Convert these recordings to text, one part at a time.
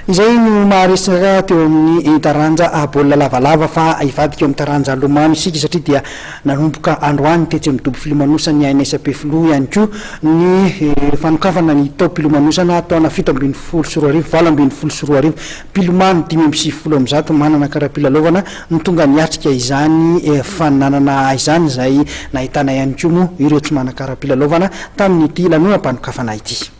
Izay no maharesaka teo amin'ny taranja baolina lavalava fa hivadika eo amin'ny taranja lomano isika satria dia nanomboka androany tetsy amin'ny dobo filomanosany ANS Ampefiloha ihany koa ny fanokafana ny taom-pilomanosana taona fito ambin'ny folo sy roa arivo valo ambin'ny folo sy roa arivo. Mpilomano dimy amby sivifolo amby zato manana kara-pilalaovana no tonga niatrika izany faninanana izany izay nahitana ihany koa moa ireo tsy manan-kara-pilalaovana tamin'ity lanonam-panokafana ity.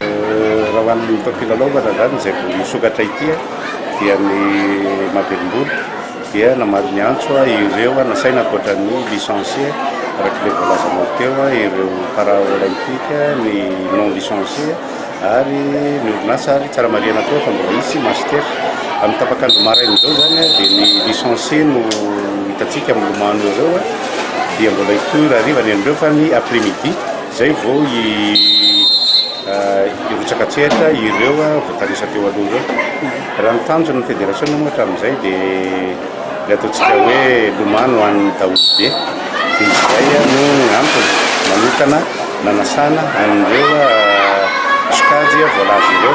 Raha ho an'ny mpampilalaovana izany izay vao misokatra ity dia ny Mahavelom-bolo dia namaly ny antso ireo nasaina ankoatra ny licencie araka ilay voalazanao teo ireo para olympique, ny non licencie ary ny orinasa ary tsara marihana koa fa mbola hisy master. Amin'ny tapak'andro maraina izao izany dia ny licencie no hitantsika milomano ireo dia mbola hitory hariva ny an'ireo fa ny après midi. Izay vao hirotsaka an-tsehatra ireo voatanisa teo aloha ireo. Raha ny tanjon'ny federasiona moa hatramin'izay dia ilay ataontsika hoe lomano ho an'ny daholobe. Dia izay no antony manokana nanasana an'ireo sokajy voalaza ireo.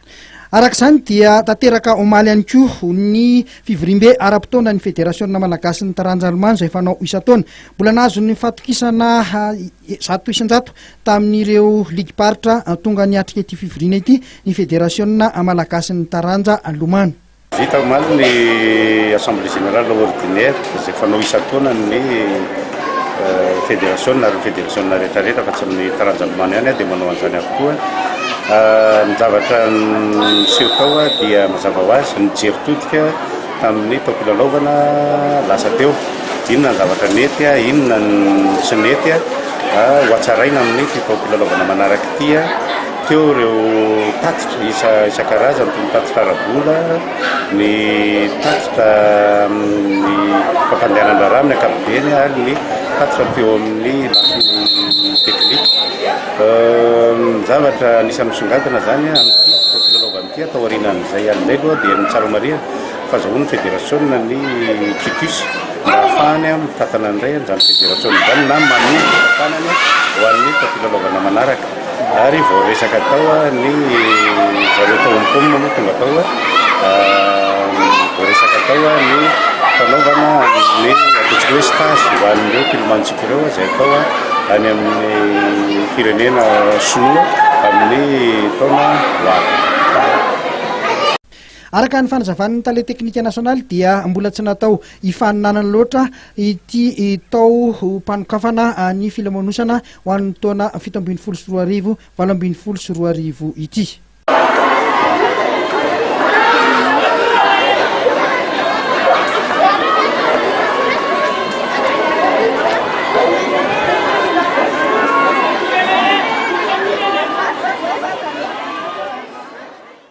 Araka izany dia tanteraka omaly ihany koa ny fivoriambe ara-potoana ny federasiona malagasy ny taranja alomano izay fanao isan-taona. Mbola nahazo ny fatokisana zato isan-jato tamin'ireo ligim-paritra tonga niatrika ity fivoriana ity ny federasiona malagasy ny taranja alomano. Vita omaly ny Assemblée Générale Ordinaire izay fanao isan-taonan'ny Federasiona ary ny Federasiona rehetrarehetra fa tsy ny taranja milomano ihany dia manao an'izany avokoa. Ny zavatra niseho tao dia mazava ho azy nijery todika tamin'ny taom-pilalaovana lasa teo. Inona ny zavatra nety, inona ny tsy nety hohatsaraina amin'ity taom-pilalaovana manaraka ity. Teo ireo tatitra isan-karazany toy ny tatitra ara-bola, ny tatitra amin'ny fampandehanan-draharaha amin'ny ankapobeny ary ny tatitra teo amin'ny lafiny teknika. Ny zavatra anisan'ny misongadina izany amin'ity fotoana filalaovana ity aho taorianan'izay ihany indray aloha dia ny tsara marihana fa azahoan'ny federasiona ny quitus mba hahafahany mitantana indray an'izany federasiona izany na manohy ny fitantanany ho an'ny taom-pilalaovana manaraka. Ary vao resaka tao ny zareo tao Hong Kong moa tonga tao, vao resaka tao ny fanaovana ny ataontsika hoe stage ho an'ireo mpilomantsika ireo izay atao any amin'ny firenena Sinoa amin'ny taona ho avy. Araka ny fanazavan'ny tale teknika nasionaly dia mbola tsy natao hifaninanana loatra ity tao mpanokafana ny filomanosana ho an'ny taona fito ambin'ny folo sy roa arivo, valo ambin'ny folo sy roa arivo ity.